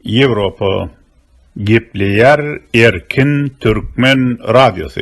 Ýewropa gepleýär erkin türkmen radiosy.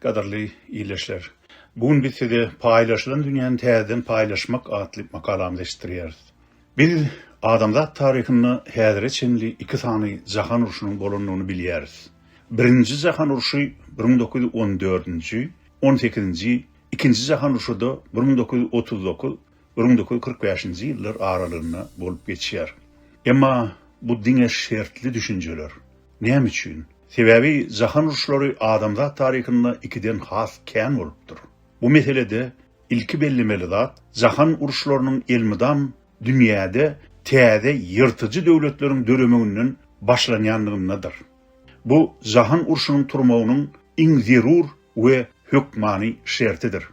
Gadyrly ildeşler! Bu gün biz size Paýlaşylan dünýäni täzeden paýlaşmak atly makalamyzy eşitdirýäris. Biz adamzat taryhynda häzire çenli iki sany jahan urşunyň bolandygyny bilýäris. Birinji jahan urşy bir müň dokuz ýüz on dördünji, on sekizinji, ikinji jahan urşuda bir müň dokuz ýüz otuz dokuz, bir müň dokuz ýüz kyrk bäşinji ýyllar aralygynda bolup geçýär. Emma bu diňe şertli düşünjeler. Näme üçin? Sebäbi jahan uruşlary adamzat taryhynda ikiden has kän bolupdyr. Bu meselede ilki bellemeli zat, jahan uruşlarynyň elmydam dünýäde täze ýyrtyjy döwletleriň döremeginden başlanýandygyndadyr. Bu jahan urşunyň turmagynyň iň zerur we hökmany şertidir.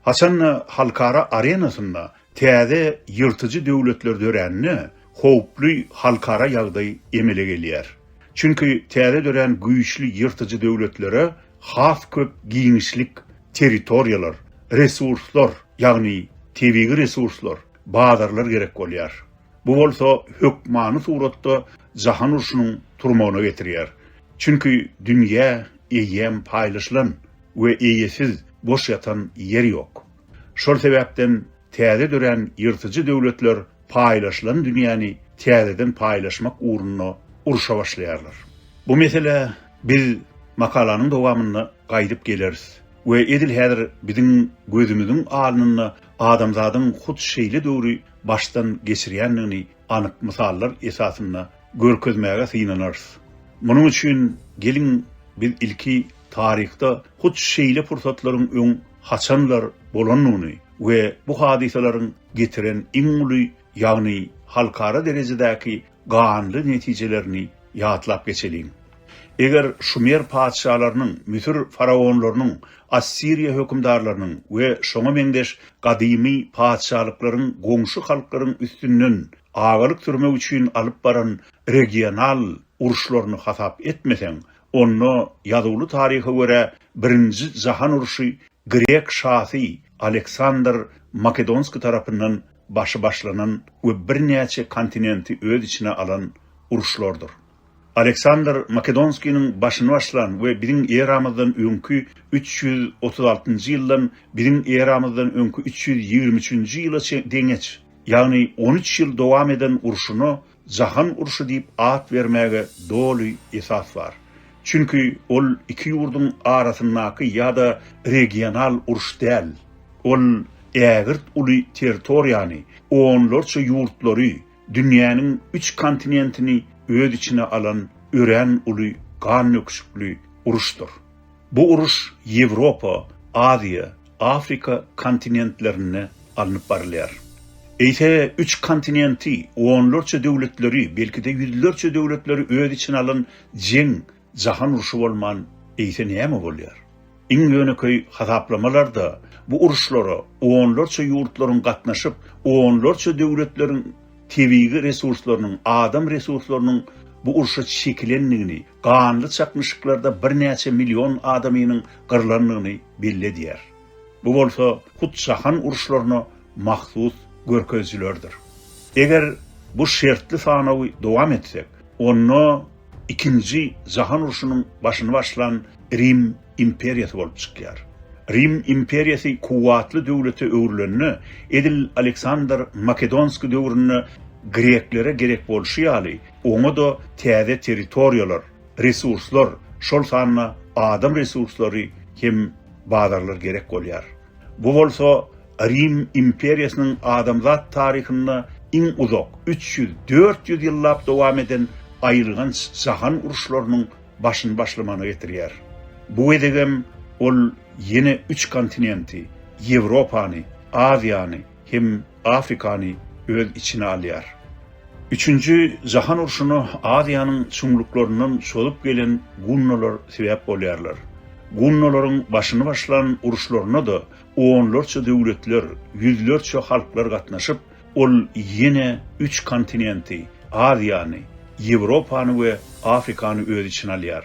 Haçan-da halkara arenasynda täze ýyrtyjy döwletler dörände, howply halkara ýagdaý emele gelýär. Çünki täze dörän güýçli ýyrtyjy döwletlere has köp giňişlik, territoriýalar, resurslar, ýagny tebigy resurslar, bazarlar gerek bolýar. Bu bolsa hökmany suratda jahan urşunyň turmagyna getirýär. Çünki dünýä eýýäm paýlaşylan we eýesiz boş ýatan ýer ýok. Şol sebäpden täze dörän ýyrtyjy döwletler paýlaşylan dünýäni täzeden paýlaşmak ugrunda urşa başlaýarlar. Bu meselä biz makalanyň dowamynda gaýdyp geleris we edil häzir biziň gözümiziň alnynda adamzadyň hut şeýle döwri başdan geçirýändigini anyk mysallar esasynda görkezmäge synanarys. Munuň üçin geliň biz ilki taryhda hut şeýle pursatlaryň öň haçanlar bolandygyny we bu hadysalaryň getiren iň uly, ýagny halkara derejedäki ganly netijelerini ýatlap geçeliň. Eger şumer patyşalarynyň, müsür faraonlarynyň, assiriýa hökümdarlarynyň we şoňa meňzeş gadymy patyşalyklaryň goňşy halklaryň üstünden agalyk sürmek üçin alyp baran regional uruşlaryny hasap etmeseň, onda ýazuwly taryha görä birinji jahan urşy grek şasy Aleksandr Makedonskiý tarapyndan başy başlanan we birnäçe kontinenti öz içine alan uruşlardyr. Aleksandr Makedonskiniň başyny başlan we biziň eramyzdan öňki üç ýüz otuz altynjy ýyldan biziň eramyzdan öňki üç ýüz ýigrimi üçünji ýyla çe deňeç, ýagny on üç ýyl dowam eden urşuna Jahan urşy diýip at bermäge doly esas bar. Çünki ol iki ýurduň arasyndaky ýa-da regional uruş däl. Ol ägirt uly territoriýany, onlarça ýurtlary, Dünýäniň üç kontinentini öz içine alan örän uly gannöküşikli uruşdyr. Bu uruş Ýewropa, Aziýa, Afrika kontinentlerinde alnyp barylýar. Eýse üç kontinenti, onlarça döwletleri, belki-de ýüzlerçe döwletleri öz içine alan jeň Jahan urşy bolman eýse näme bolýar? Iň ýönekeý hasaplamalarda bu uruşlara onlarça ýurtlaryň gatnaşyp, onlarça döwletleriň tebigy resurslarynyň, adam resurslarynyň bu urşa çekilendigini, ganly çaknyşyklarda birnäçe million adamynyň gyrlandygyny belli edýär. Bu bolsa hut jahan uruşlaryna mahsus görkezijilerdir. Eger bu şertli sanawy dowam etsek, onda Ikinji jahan urşunyň başyny başlan Rim imperiýasy bolup çykýar. Rim imperiýasy kuwwatly döwlete öwrülende, edil Aleksandr Makedonskiý döwründe greklere gerek bolşy ýaly, oňa-da täze territoriýalar, resurslar, şol sanda adam resurslary hem bazarlar gerek bolýar. Bu bolsa Rim imperiýasynyň adamzat taryhynda iň uzak, üç ýüz, dört ýüz ýyllap dowam eden aýylganç jahan uruşlarynyň başyny başlamana getirýär. Bu gezegem ol ýene üç kontinenti, Ýewropany, Aziýany, hem Afrikany öz içine alýar. Üçünji jahan urşuna Aziýanyň çuňluklaryndan çozup gelen gunnolar sebäp bolýarlar. Gunnolaryň başyny başlan uruşlaryna-da onlarça döwletler, ýüzlerçe halklar gatnaşyp, ol ýene üç kontinenti, Aziýany, Ýewropany we Afrikany öz içine alýar.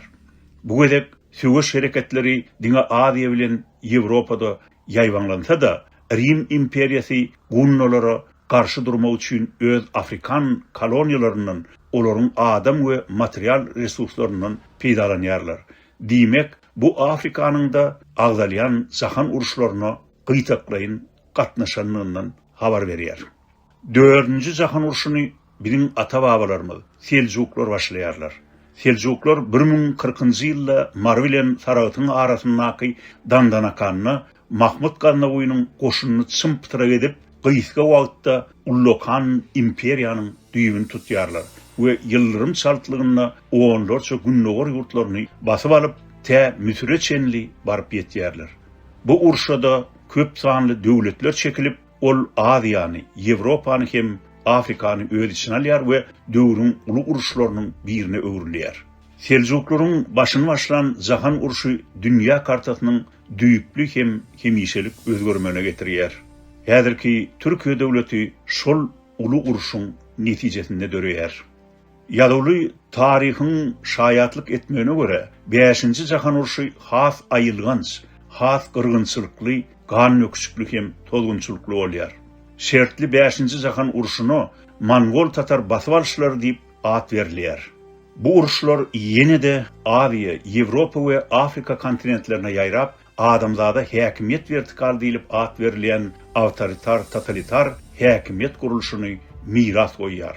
Bu gezek söweş hereketleri diňe Aziýa bilen Ýewropada ýaýbaňlansa-da, Rim imperiýasy gunnalara garşy durmak üçin öz afrikan koloniýalaryndan, olaryň adam we material resurslaryndan peýdalanýarlar. Diýmek, bu Afrikanyň-da agzalýan jahan uruşlaryna gytaklaýyn gatnaşanlygyndan habar berýär. Dördünji jahan urşuny biziň ata-babalarymyz, seljuklar başlaýarlar. Seljuklar bir müň kyrkynjy ýylda Mary bilen Saragtyň arasyndaky Dandanakanda Mahmyt Gaznawynyň goşunyny çym-pytyrak edip, gysga wagtda ullakan imperiýanyň düýbüni tutýarlar we ýyldyrym çaltlygynda onlarça gündogar ýurtlaryny basyp alyp, tä Müsüre çenli baryp ýetýärler. Bu urşa-da köp sanly döwletler çekilip, Ol Aziýany, Ýewropany hem Afrikany öz içine alýar we döwrüň uly uruşlarynyň birine öwrülýär. Seljuklaryň başyny başlan jahan urşy dünýä kartasynyň düýpli hem hemişelik özgermegine getirýär. Häzirki Türkiýe döwleti şol uly urşuň netijesinde döreýär. Ýazuwly taryhyň şaýatlyk etmegine görä, Bäşinji jahan urşy has aýylganç, has gyrgynçylykly, gandöküşikli hem tozgunçylykly bolýar. Şertli Bäşinji jahan urşuna mongol-tatar basyp alyşlary diýip at berilýär. Bu uruşlar ýene-de Aziýa, Ýewropa we Afrika kontinentlerine ýaýrap, adamzada häkimiýet wertikaly diýlip at berilýän awtoritar-totalitar häkimiýet gurluşyny miras goýýar.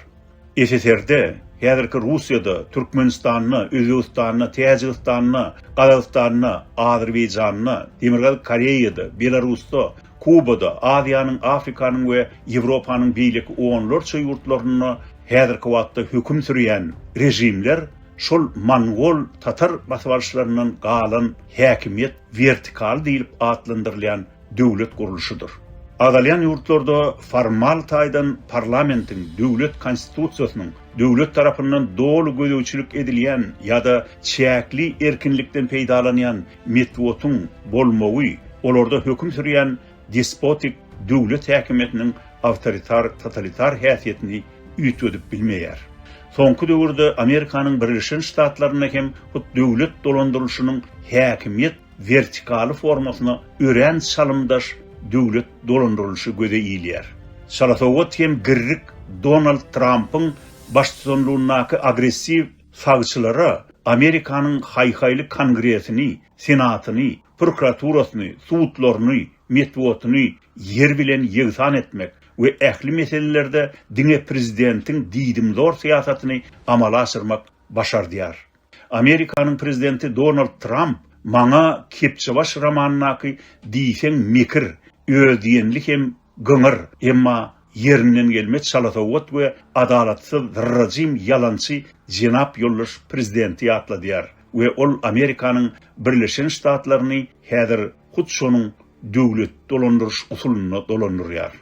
SSR-de, häzirki Russiýada, Türkmenistanda, Özbegistanda, Täjigistanda, Gazagystanda, Azerbaýjanda, Demirgazyk Koreýada, Belarusda, Kubada, Aziýanyň, Afrikanyň we Ýewropanyň beýleki onlarça ýurtlarynda häzirki wagtda höküm sürýän režimler şol mongol, tatar basybalyşlaryndan galan häkimiýet wertikaly diýlip atlandyrylýan döwlet gurluşydyr. Agzalýan ýurtlarda formal taýdan parlamentiň, döwlet konstitusiýasynyň, döwlet tarapyndan doly gözegçilik edilýän ýa-da çäkli erkinlikden peýdalanýan metbugatyň bolmagy olarda höküm sürýän despotik döwlet häkimiýetiniň awtoritar-totalitar häsiýetini üýtgedip bilmeýär. Soňky döwürde Amerikanyň Birleşen Ştatlarynda hem hut döwlet dolandyrylyşynyň häkimiýet wertikaly formasyna örän çalymdaş döwlet dolandyrylyşy göze ilýär. Çalasowat hem girrik Donald Trampyň baştutanlygyndaky agressiw sagçylara Amerikanyň haý-haýly Kongresini, Senatyny, prokuraturasyny, sudlaryny, metbugatyny ýer bilen ýegsan etmek we ähli meselelerde diňe prezidentiň diýdimzor syýasatyny amala aşyrmak başardýar. Amerikanyň prezidenti Donald Tramp maňa Kepjebaş romanyndaky diýseň mekir, özdiýenli hem Gyňyr, emma ýerinden gelmez çalasowat we adalatsyz zyrrajym ýalançy jenap ýoldaş Prezidenti ýatladýar we ol Amerikanyň Birleşen Ştatlaryny häzir hut şonuň döwlet dolandyryş usulynda dolandyrýar.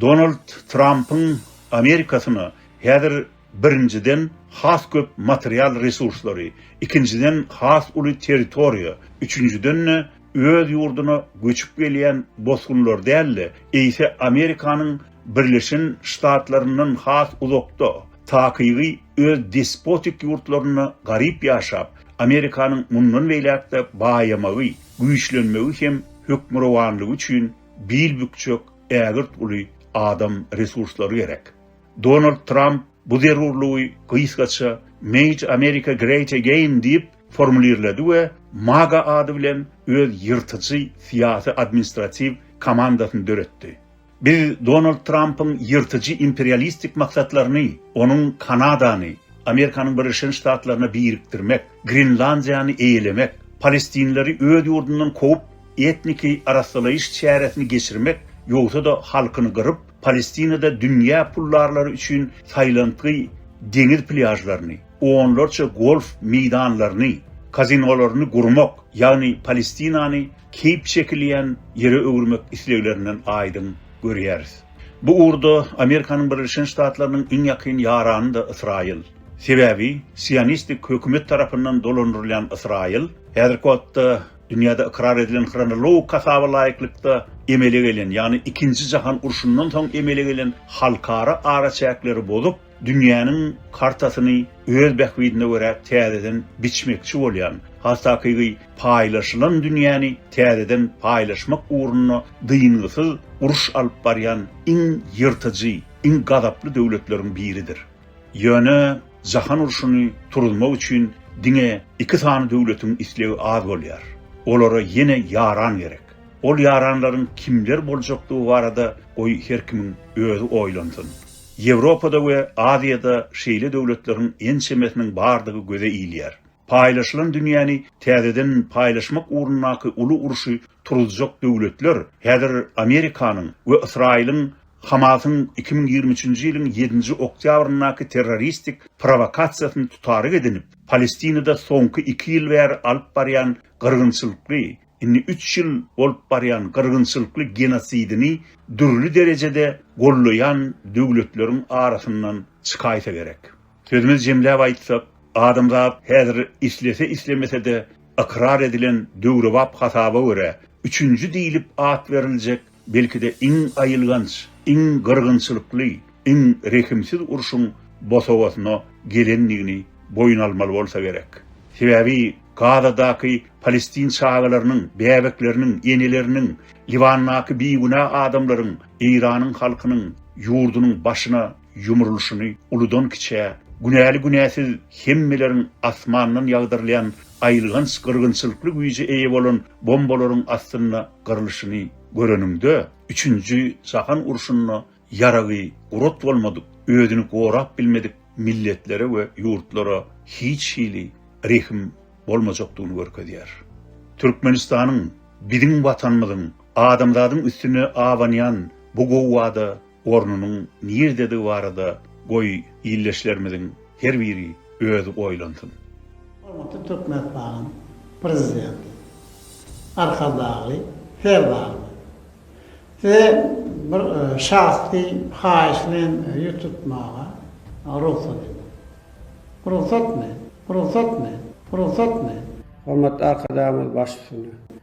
Donald Trampyň Amerikasyna häzir birinjiden has köp material resurslary, ikinjiden has uly territoriýa, üçünjiden-de öz ýurduna göçüp gelýän bosgunlar däl-de, eýse Amerikanyň Birleşen Ştatlaryndan has uzakda, takygy öz despotik ýurtlarynda garyp ýaşap, Amerikanyň mundan beýläk-de baýamagy, güýçlenmegi hem hökmürowanlygy üçin bil bükjek ägirt uly adam resurslary gerek. Donald Tramp bu zerurlygy gysgaça Made America Great Again diýip, formulirledi we MAGA ady bilen öz ýyrtyjy syýasy-administratiw komandasyny döretdi. Biz Donald Trampyň ýyrtyjy imperialistik maksatlaryny, onuň Kanadany, Amerikanyň Birleşen Ştatlaryna birikdirmek, Grenlandiýany eýelemek, palestinleri öz ýurdundan kowup, etniki arassalaýyş çäresini geçirmek ýogsa-da halkyny gyryp, Palestinada dünýä pullarlary üçin saýlantgy deňiz plýažlaryny, onlarça golf meýdanlaryny, kazinolaryny gurmak, ýagny Palestinany keýp çekilýän ýere öwürmek isleglerinden aýdyň görýäris. Bu ugurda Amerikanyň Birleşen Ştatlarynyň iň ýakyn ýarany-da Ysraýyl. Sebäbi sionistik hökümet tarapyndan dolandyrylýan Ysraýyl häzirki wagtda dünýäde ykrar edilen hronologik hasaba laýyklykda emele gelen, ýagny Ikinji jahan urşundan soň emele gelen halkara araçäkleri bozup, Dünýäniň kartasyny öz bähbidine görä täzeden biçmekçi bolýan, has takygy paýlaşylan dünýäni täzeden paýlaşmak ugrunda dyngysyz uruş alyp barýan iň ýyrtyjy, iň gazaply döwletleriň biridir. Ýöne jahan urşuny turuzmak üçin diňe iki sany döwletiň islegi az bolýar. Olara ýene ýaran gerek. Ol ýaranlaryň kimler boljakdygy barada goý her kimiň özi oýlansyn. Ýewropada we Aziýada şeýle döwletleriň ençemesiniň bardygy göze ilýär. Paýlaşylan dünýäni täzeden paýlaşmak ugrundaky uly urşy turuzjak döwletler häzir Amerikanyň we Ysraýylyň Hamasyň iki müň ýigrimi üçünji ýylyň ýedinji oktýabryndaky terroristik prowokasiýasyny tutaryk edinip, Palestinada soňky iki ýyl bäri alyp barýan gyrgynçylykly indi üç ýyl bolup barýan gyrgynçylykly genosidini dürli derejede gollaýan döwletleriň arasyndan çykaýsa gerek. Sözümizi jemläp aýtsak, adamzat häzir islese-islemese-de ykrar edilen döwrebap hasaba görä, üçünji diýlip at beriljek belki-de iň aýylganç, iň gyrgynçylykly, iň rehimsiz urşuň bosagasyna gelendigini boýun almaly bolsa gerek. Sebäbi Gazadaky palestin çagalarynyň, bäbekleriniň, eneleriniň, Liwandaky bigünä adamlaryň Eýranyň halkynyň ýurdunyň başyna ýumrulyşyny uludan-kiçä, günäli-günäsiz hemmeleriň asmandan ýagdyrylýan aýylganç gyrgynçylykly güýje eýe bolan bombalaryň astynda gyrlyşyny göreniňde, üçünji jahan urşunda ýaragy gurat bolmadyk, özüni gorap bilmedik milletlere we ýurtlara hiç hili rehim bolmajakdygyny görkezýär. Türkmenistanyň, biziň Watanymyzyň, adamzadyň üstüne abanýan bu gowada ornunyň nirdedigi barada goý ildeşlerimiziň her biri özi oýlansyn. Hormatly Türkmenistaanyň Prezidenti Arkadagly Serdarymyz! Size bir şahsy haýyş bilen ýüz tutmaga rugsat ediň. Rugsatmy? Rugsatmy? Rugsatmy? Hormatly Arkadagymyz baş üstünde!